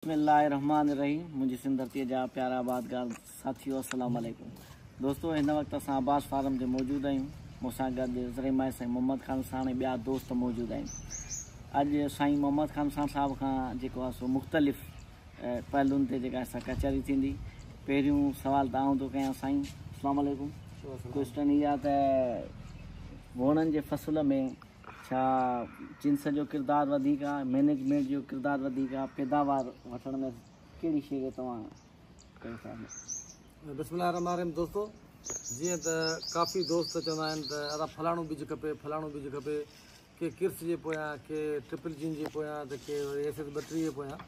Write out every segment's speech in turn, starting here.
بسم الله الرحمٰن الرحيم منهنجي سنڌ ڌرتي جا پيارا آبادگار ساٿيو السلام عليڪم دوستو هن وقت اسان عباس فارم تي موجود آهيون مون سان گڏ زرعي ماهر سائين محمد خان ساڻ ۽ ٻيا دوست موجود آهن اڄ سائين محمد خان ساڻ صاحب کان جيڪو آهي سو مختلف پهلون تي جيڪا سا ڪچهري ٿيندي پهريون سوال ته آئون ٿو ڪيان سائين السلام عليڪم ڪوشچن اها ته ووڻن جي فصل ۾ ڇا جنس جو ڪردار وڌيڪ آ مينيجمينٽ جو ڪردار وڌيڪ آ پيداوار وٺڻ ۾ ڪهڙي شي جو توهان ڪيو ٿا بسم الله الرحمن الرحيم دوستو جيئن ته ڪافي دوست چوندا آهن ته ادا فلاڻو ٻج کپي فلاڻو ٻج کپي ڪي ڪرس جي پويان ڪي ٽرپل جين جي پويان ته ڪي وري ايس ايس ٻٽيهه جي پويان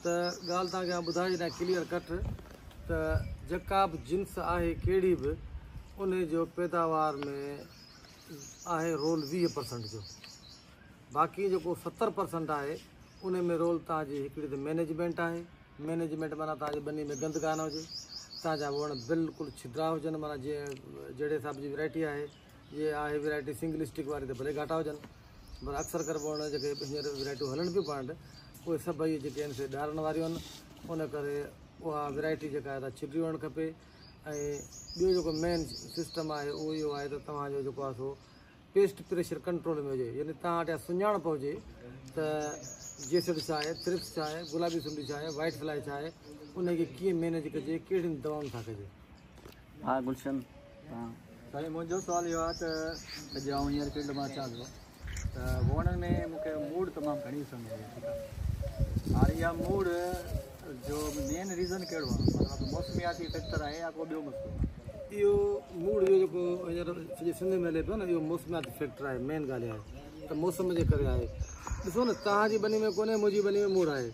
ته ڳالهه تان کي ٻڌائي ڏينا ڪليئر ڪٽ ته جيڪا به جنس آهي ڪهڙي به ان جو پيداوار ۾ آهي رول ويهه پرسنٽ جو باقي جيڪو ستر پرسنٽ آهي ان ۾ رول تان جي هڪڙي ته مينيجمينٽ آهي مينيجمينٽ معنيٰ تان جي ٻني ۾ گند ڪانه هجي تان جا وڻ بلڪل ڇڌرا هجن معنيٰ جي جهڙي حساب جي ورائٽي آهي جي آهي ورائٽي سنگل اسٽڪ واري ته ڀلي گهاٽا هجن پر اڪثر ڪري وڻ جيڪي هينئر ورائٽيون هلن پيون پانڊ اهي سڀئي جيڪي آهن سي ڏارن واريون آهن ان ڪري اها ورائٽي جيڪا آهي ڇڊي وڻ کپي ۽ ٻيو جيڪو مين سسٽم آهي اهو اهو آهي ته توهان جو جيڪو آهي سو پيسٽ پريشر ڪنٽرول ۾ هجي يعني توهان وٽ اها سڃاڻپ هجي ته جيسڊ ڇا آهي ترپس ڇا آهي گلابي سنڊي ڇا آهي وائٽ فلائي ڇا آهي ان کي ڪيئن مينيج ڪجي ڪهڙين دوائن سان ڪجي ها گلشن سائين منهنجو سوال اهو آهي ته اڄ آئون هينئر فيلڊ مان اچان ٿو ته ووڻن ۾ مون کي موڙ تمام گهڻي ڏسڻ ۾ اچي ٿي هاڻي اها موڙ جو مين ريزن ڪهڙو آهي مطلب موسمياتي فيڪٽر آهي يا ڪو ٻيو مسئلو آهي اهو موڙ جو جيڪو هينئر سڄي سنڌ ۾ هلي پيو نه اهو موسمياتي فيڪٽر آهي مين ڳالهه اها آهي ته موسم جي ڪري آهي ڏسو نه تان جي بني ۾ ڪونهي منهنجي بني ۾ موڙ آهي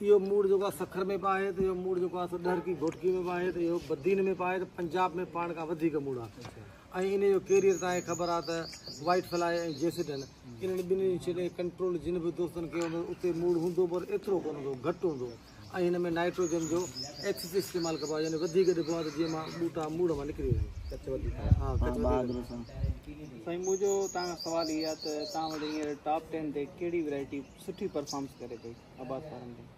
اهو موڙ جيڪو آهي سکر ۾ به آهي ته اهو موڙ جيڪو آهي سو ڏهرڪي گهوٽڪي ۾ به آهي ته اهو بدين ۾ به آهي ته پنجاب ۾ پاڻ کان وڌيڪ موڙ آهي ۽ ان جو ڪيريئر تان هي خبر آهي ته وائيٽ فلائي ۽ جيسڊن انهن ٻنهي جي ڇڏي ڪنٽرول جن به دوستن ڪيو هوندو اتي موڙ هوندو پر ايترو ڪونه هوندو گهٽ هوندو ۽ هن ۾ نائٽروجن جو ايڪسس استعمال ڪبو آهي يعني وڌيڪ ڏبو آهي ته جيئن مان ٻوٽا موڙ مان نڪري وڃن ڪچ وڌيڪ آهي ها ڪچ وڌيڪ آهي سائين منهنجو تان کان سوال هي آهي ته تان وٽ هينئر ٽاپ ٽين تي ڪهڙي ويرائٽي سٺي پرفارمس ڪري پئي آباد وارن ۾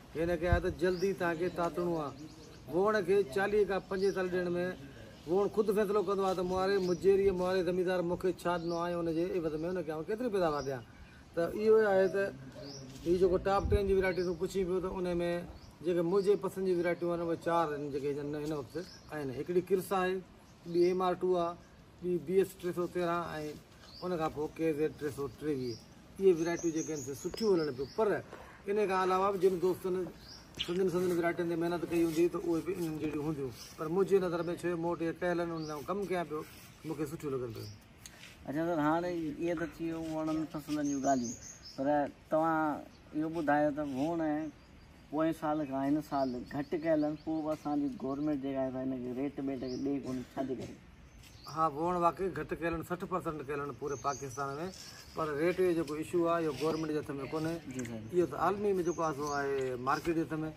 هن کي آهي ته جلدي تان کي تاتڻو آ. ووڻ کي چاليهه کان پنجيتاليهه ڏينهن ۾ ووڻ خود فيصلو ڪندو آ ته مئاري مجيريء مئاري زميندار مون کي ڇا ڏنو آ ۽ ان جي عيوض ۾ هن کي آئون ڪيتري پيداوار ڏيان ته اهو ئي آهي ته هي جيڪو ٽاپ ٽين جي ويرائٽي تون پڇين پيو ته ان ۾ جيڪي منهنجي پسند جي ويرائٽيون آهن اهي چار آهن جيڪي هن هن وقت آهن هڪڙي ڪرس آهي ٻي ايم آر ٽو آ ٻي بي ايس ٽي سؤ تيرهن ۽ ان کان پوء ڪي زيڊ ٽي سؤ ٽيويهه اهي ويرائٽيون جيڪي آهن سي سٺيون هلڻ پيون پر ان کان علاوه به جن دوستن سندن سندن ويرائٽين تي محنت ڪئي هوندي ته اهي به انهن جهڙيون هونديون پر منهنجي نظر ۾ ڇو مون وٽ اهي ڪيل آهن انهن سان ڪم ڪيان پيو مون کي سٺيون لڳن پيون اچا سر هاڻي اهي ته ٿي ويون وڻن پسندن جون ڳالهيون پر توهان اهو ٻڌايو ته ووڻ پوئين سال کان هن سال گهٽ ڪيل آهن پوء به اسان جي گورنمينٽ جيڪا آهي سا هن کي ريٽ ٻيٽ کي ڏئي ڪونهي ڇا جي ڪري. ها بوڻ واقعي گهٽ ڪيل آهن سٺ پرسنٽ ڪيل آهن پوري پاڪستان ۾ پر ريٽ جو جيڪو اشو آهي اهو گورنمينٽ جي هٿ ۾ ڪونهي اهو ته عالمي ۾ جيڪو آهي سو آهي مارڪيٽ جي هٿ ۾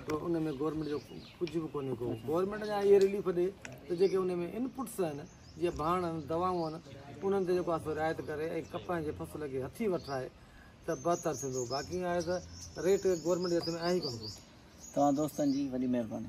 تو ان ۾ گورنمينٽ جو ڪجهه به ڪونهي ڪو گورنمينٽ جا اهي رليف ڏي ته جيڪي ان ۾ ان پٽس آهن جيئن ڀاڻ آهن دوائون آهن انهن تي جيڪو آهي سو رعايت ڪري ۽ ڪپهه جي فصل کي هٿي وٺرائي ته بهتر ٿيندو باقي آهي ته ريٽ گورنمينٽ جي هٿ ۾ آهي ڪونه ڪو. توهان دوستن جي وڏي مهرباني.